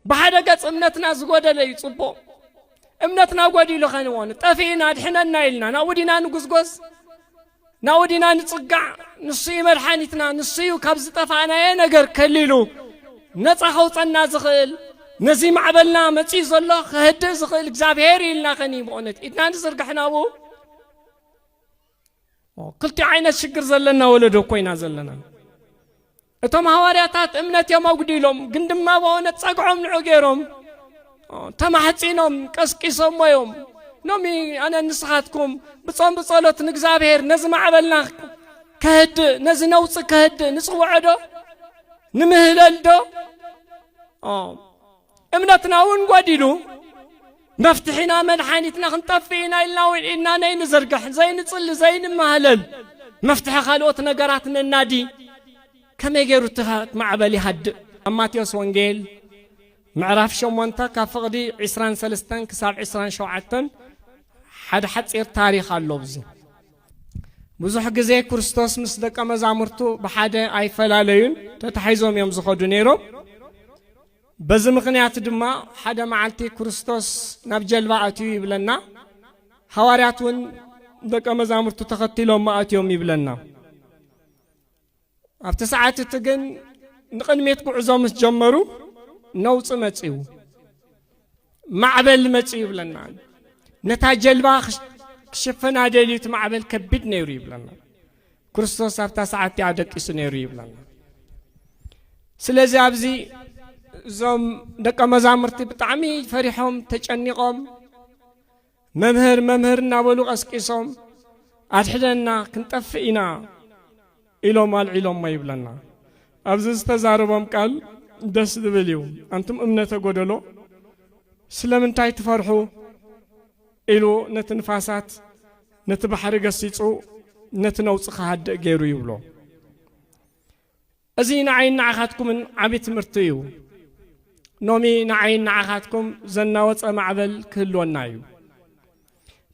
ብሓደ ገጽ እምነትና ዝጎደለ እዩ ጽቡቕ እምነትና ጎዲሉ ኸንዎን ጠፊእና ኣድሕነና ኢልና ናብኡ ዲና ንጉዝጎዝ ናብኡ ዲና ንጽጋዕ ንሱ እዩ መድሓኒትና ንሱ እዩ ካብ ዝጠፋእናየ ነገር ከሊሉ ነፃ ከውፀና ዝኽእል ነዚ ማዕበልና መፅኡ ዘሎ ከህድእ ዝኽእል እግዚኣብሄር ኢልና ኸኒ ብእውነት ኢድና ንዝርግሕ ናብኡ ክልቲኡ ዓይነት ሽግር ዘለና ወለዶ ኮይና ዘለና እቶም ሃዋርያታት እምነት እዮም ኣጉዲሎም፣ ግን ድማ ብሆነ ጸግዖም ንዑ ገይሮም ተማሕጺኖም ቀስቂሶሞ እዮም። ሎሚ ኣነ ንስኻትኩም ብጾም ብጸሎት ንእግዚኣብሔር ነዚ ማዕበልና ከህድእ ነዚ ነውፂ ከህድእ ንጽውዖ ዶ ንምህለል ዶ እምነትና እውን ጐዲሉ መፍትሒና መድሓኒትና ክንጠፍእ ኢና ኢልና እውን ኢድና ነይንዝርግሕ ዘይንጽሊ ዘይንማህለል መፍትሒ ካልኦት ነገራት ነናዲ ከመይ ገይሩ እቲ ማዕበል ይሃድእ ኣብ ማቴዎስ ወንጌል ምዕራፍ ሸሞንተ ካብ ፍቕዲ ዕስራን ሰለስተን ክሳብ ዕስራን ሸውዓተን ሓደ ሓፂር ታሪክ ኣሎ ኣብዚ ብዙሕ ግዜ ክርስቶስ ምስ ደቀ መዛሙርቱ ብሓደ ኣይፈላለዩን ተታሒዞም እዮም ዝኸዱ ነይሮም በዚ ምኽንያት ድማ ሓደ መዓልቲ ክርስቶስ ናብ ጀልባ ኣትዩ ይብለና፣ ሃዋርያት እውን ደቀ መዛሙርቱ ተኸቲሎሞ ኣትዮም ይብለና። ኣብቲ ሰዓት እቲ ግን ንቕድሜት ጉዕዞ ምስ ጀመሩ ነውፂ መፅዩ። ማዕበል መጽእ ይብለና ነታ ጀልባ ክሸፈና ደልዩ እቲ ማዕበል ከቢድ ነይሩ ይብለና ክርስቶስ ኣብታ ሰዓት እቲኣ ደቂሱ ነይሩ ይብለና ስለዚ ኣብዚ እዞም ደቀ መዛሙርቲ ብጣዕሚ ፈሪሖም ተጨኒቖም መምህር መምህር እናበሉ ቀስቂሶም ኣድሕደና ክንጠፍእ ኢና ኢሎም ኣልዒሎሞ ይብለና። ኣብዚ ዝተዛረቦም ቃል ደስ ዝብል እዩ። ኣንቱም እምነተ ጎደሎ ስለምንታይ ትፈርሑ ኢሉ ነቲ ንፋሳት ነቲ ባሕሪ ገሲጹ ነቲ ነውጺ ክሃድእ ገይሩ ይብሎ። እዚ ንዓይን ንዓኻትኩምን ዓቢ ትምህርቲ እዩ። ኖሚ ንዓይን ንዓኻትኩም ዘናወጸ ማዕበል ክህልወና እዩ።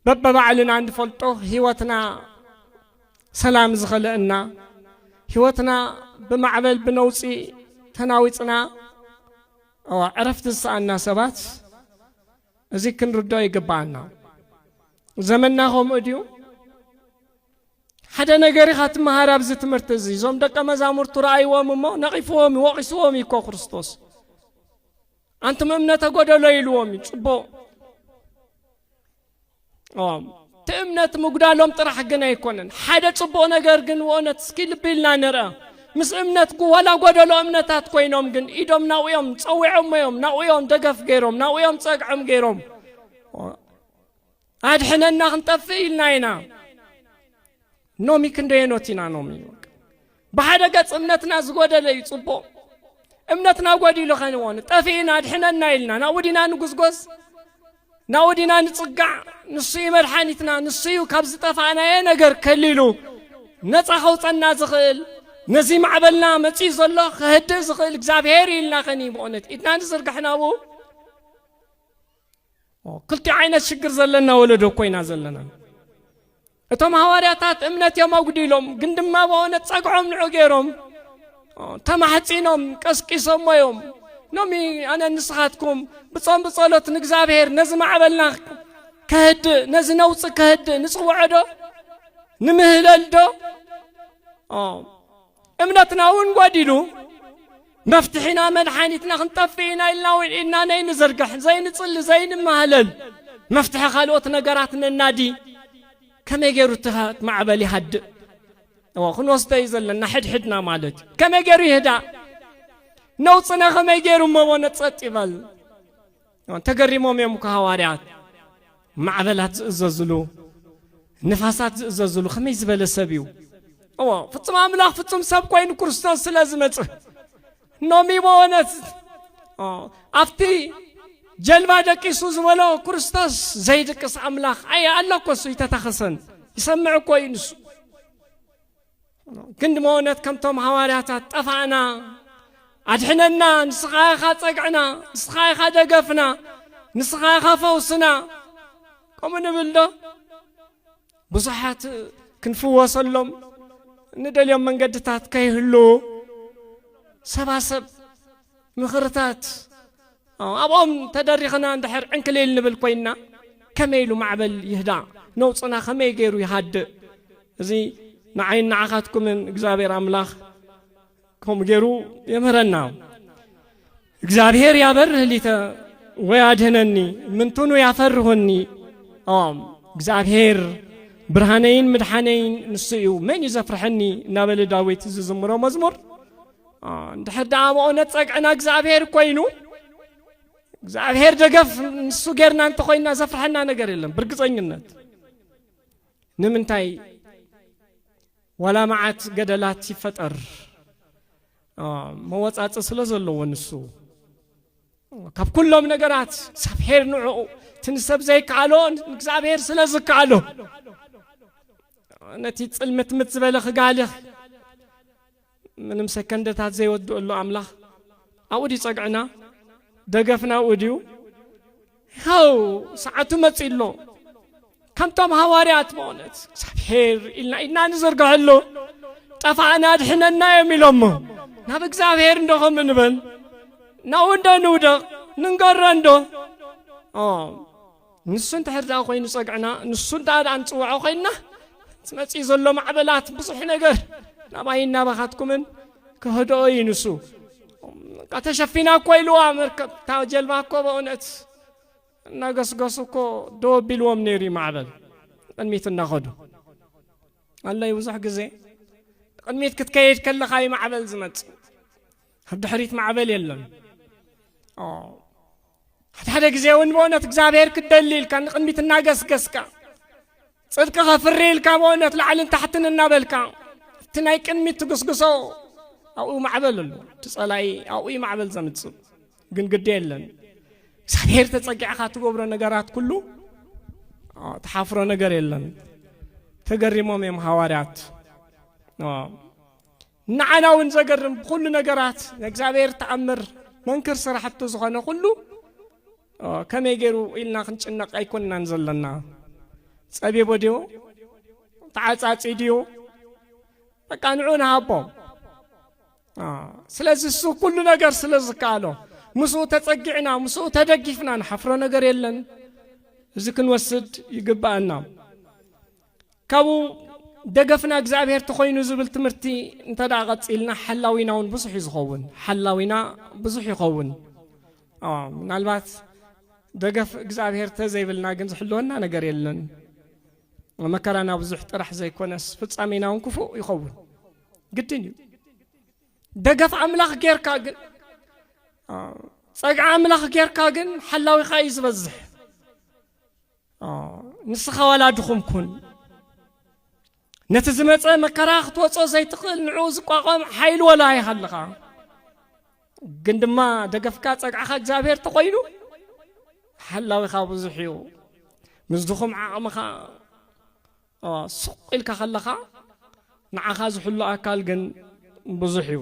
በበባዕልና እንፈልጦ ህይወትና ሰላም ዝኸለእና፣ ህይወትና ብማዕበል ብነውጺ ተናዊጽና ኣዋ ዕረፍቲ ዝሰኣና ሰባት እዚ ክንርድኦ ይግብኣና። ዘመንና ከምኡ ድዩ? ሓደ ነገር ኢኻ ትመሃር ኣብዚ ትምህርቲ እዚ እዞም ደቀ መዛሙርቱ ረኣይዎም እሞ ነቒፍዎም እዩ ወቒስዎም እዩ እኮ ክርስቶስ ኣንቱም እምነተ ጎደሎ ኢልዎም እዩ ፅቡቕ እቲ እምነት ምጉዳሎም ጥራሕ ግን ኣይኮነን ሓደ ፅቡቕ ነገር ግን ወነት እስኪ ልቢ ኢልና ንርአ ምስ እምነት ዋላ ጎደሎ እምነታት ኮይኖም ግን ኢዶም ናብኡ እዮም ፀዊዖሞ እዮም ናብኡ እዮም ደገፍ ገይሮም ናብኡ እዮም ፀግዖም ገይሮም ኣድሕነና ክንጠፍእ ኢልና ኢና ኖሚ ክንደየኖት ኢና ኖሚ ብሓደ ገጽ እምነትና ዝጎደለ እዩ ጽቡቕ እምነትና ጎዲሉ ኸንዎን ጠፊእና ኣድሕነና ኢልና ናብኡ ዲና ንጉዝጎዝ ናብኡ ዲና ንጽጋዕ ንሱ እዩ መድሓኒትና ንሱ እዩ ካብ ዝጠፋእናየ ነገር ከሊሉ ነፃ ከውፀና ዝኽእል ነዚ ማዕበልና መፂኡ ዘሎ ክህድእ ዝኽእል እግዚኣብሄር ኢልና ኸኒ ብእውነት ኢድና ንዝርግሕ ናብኡ ክልቲኡ ዓይነት ሽግር ዘለና ወለዶ እኮ ኢና ዘለና እቶም ሃዋርያታት እምነት እዮም ኣጉዲሎም ግን ድማ በሆነ ጸግዖም ንዑ ገይሮም ተማሕጺኖም ቀስቂሶሞ እዮም ሎሚ ኣነ ንስኻትኩም ብጾም ብጸሎት ንእግዚኣብሔር ነዚ ማዕበልና ከህድእ ነዚ ነውፂ ከህድእ ንጽውዖ ዶ ንምህለል ዶ እምነትና እውን ጐዲሉ መፍትሒና መድሓኒትና ክንጠፍእ ኢና ኢልና እውን ኢድና ነይንዝርግሕ፣ ዘይንጽሊ፣ ዘይንማህለል፣ መፍትሒ ካልኦት ነገራት ነናዲ፣ ከመይ ገይሩ እቲ ማዕበል ይሃድእ? እወ ክንወስዶ እዩ ዘለና ሕድሕድና ማለት እዩ። ከመይ ገይሩ ይህዳእ? ነውጽነ ከመይ ገይሩ እሞ ጸጥ ይበል? ተገሪሞም እዮም እኮ ሃዋርያት ማዕበላት ዝእዘዝሉ ንፋሳት ዝእዘዝሉ ከመይ ዝበለ ሰብ እዩ እዎ ፍጹም ኣምላኽ ፍጹም ሰብ ኮይኑ ክርስቶስ ስለ ዝመጽእ ኖሚ በወነት ኣብቲ ጀልባ ደቂሱ ዝበሎ ክርስቶስ ዘይድቅስ ኣምላኽ ኣየ ኣሎ እኮ እሱ ይተታኸሰን ይሰምዕ እኮ እዩ ንሱ ክንዲ መወነት ከምቶም ሃዋርያታት ጠፋእና ኣድሕነና ንስኻ ኢኻ ጸግዕና ንስኻ ኢኻ ደገፍና ንስኻ ኢኻ ፈውስና ከምኡ ንብል ዶ ብዙሓት ክንፍወሰሎም ንደልዮም መንገድታት ከይህሉ ሰባሰብ ምኽርታት ኣብኦም ተደሪኽና እንድሕር ዕንክሊል ንብል ኮይንና ከመይ ኢሉ ማዕበል ይህዳእ ነውጽና ከመይ ገይሩ ይሃድእ እዚ ንዓይን ንዓኻትኩምን እግዚኣብሔር ኣምላኽ ከምኡ ገይሩ የምህረና እግዚኣብሔር ያበርህ ሊተ ወይ ኣድህነኒ ምንትኑ ያፈርሁኒ ኦም እግዚኣብሔር ብርሃነይን ምድሓነይን ንሱ እዩ መን እዩ ዘፍርሐኒ እናበለ ዳዊት ዝዝምሮ መዝሙር እንድሕር ደኣ መኦነት ጸግዕና እግዚኣብሔር ኮይኑ እግዚኣብሔር ደገፍ ንሱ ጌርና እንተኾይና ዘፍርሐና ነገር የለን ብርግፀኝነት ንምንታይ ዋላ መዓት ገደላት ይፈጠር መወፃፅ ስለ ዘለዎ ንሱ ካብ ኩሎም ነገራት እግዚኣብሔር ንዕኡ እቲ ንሰብ ዘይከኣሎ እግዚኣብሔር ስለ ዝከኣሎ ነቲ ፅልምትምት ዝበለ ክጋልኽ ምንም ሰከንደታት ዘይወድእሉ ኣምላኽ ኣብኡ ድዩ ጸግዕና ደገፍና ኣብኡ ድዩ ሃው ሰዓቱ መጺ ኣሎ ከምቶም ሃዋርያት በእውነት እግዚኣብሔር ኢልና ኢድና ንዝርግሐሉ ጠፋእና ድሕነና እዮም ኢሎሞ ናብ እግዚኣብሔር እንዶ ከም እንበል ናብኡ እንዶ ንውደቕ ንንገሮ እንዶ ንሱ እንድሕር ደኣ ኮይኑ ጸግዕና ንሱ እንድኣ ደኣ ንጽውዖ ኮይንና እቲ መጺኡ ዘሎ ማዕበላት ብዙሕ ነገር ናባይን ናባኻትኩምን ክህድኦ እዩ ንሱ በቃ ተሸፊና እኮ ኢልዋ መርከብ እታ ጀልባ እኮ በእውነት እናገስገሱ እኮ ደው ኣቢልዎም ነይሩ እዩ ማዕበል ንቅድሚት እናኸዱ ኣለይ ብዙሕ ግዜ ንቅድሚት ክትከይድ ከለኻ እዩ ማዕበል ዝመጽእ ኣብ ድሕሪት ማዕበል የለን ሓድ ሓደ ግዜ እውን ብእውነት እግዚኣብሔር ክትደሊ ኢልካ ንቕድሚት እናገስገስካ ጽድቂ ከፍሪ ኢልካ ብእውነት ላዕልን ታሕትን እናበልካ እቲ ናይ ቅድሚት ትግስግሶ ኣብኡ ማዕበል ኣሎ እቲ ጸላኢ ኣብኡ እዩ ማዕበል ዘምጽእ ግን ግዲ የለን እግዚኣብሔር ተጸጊዕኻ ትገብሮ ነገራት ኩሉ ተሓፍሮ ነገር የለን ተገሪሞም እዮም ሃዋርያት ንዓና እውን ዘገርም ብኹሉ ነገራት ናይ እግዚኣብሔር ተኣምር መንክር ስራሕቱ ዝኾነ ኩሉ ከመይ ገይሩ ኢልና ክንጭነቅ ኣይኮንናን ዘለና። ጸቢቦ ድዮ ተዓጻጺ ድዮ በቃ ንዑ ንሃቦ። ስለዚ እሱ ኩሉ ነገር ስለ ዝከኣሎ ምስኡ ተጸጊዕና ምስኡ ተደጊፍና ንሓፍሮ ነገር የለን። እዚ ክንወስድ ይግባኣና። ካብኡ ደገፍና እግዚኣብሔር ተኾይኑ ዝብል ትምህርቲ እንተ ደኣ ቀጺልና ሓላዊና እውን ብዙሕ እዩ ዝኸውን ሓላዊና ብዙሕ ይኸውን ምናልባት ደገፍ እግዚኣብሔር ተዘይብልና ግን ዝሕልወና ነገር የለን መከራና ብዙሕ ጥራሕ ዘይኮነስ ፍጻሜና እውን ክፉእ ይኸውን ግድን እዩ ደገፍ ኣምላኽ ጌርካ ግን ጸግዓ ኣምላኽ ጌርካ ግን ሓላዊኻ እዩ ዝበዝሕ ንስኻ ዋላ ድኹም ኩን ነቲ ዝመፀ መከራ ክትወፆ ዘይትኽእል ንዕኡ ዝቋቋም ሓይሊ ወላ ይሃልኻ ግን ድማ ደገፍካ ፀግዕኻ እግዚኣብሔር ተኾይኑ ሓላዊኻ ብዙሕ እዩ ምስ ድኹም ዓቕምኻ ሱቕ ኢልካ ከለኻ ንዓኻ ዝሕሉ ኣካል ግን ብዙሕ እዩ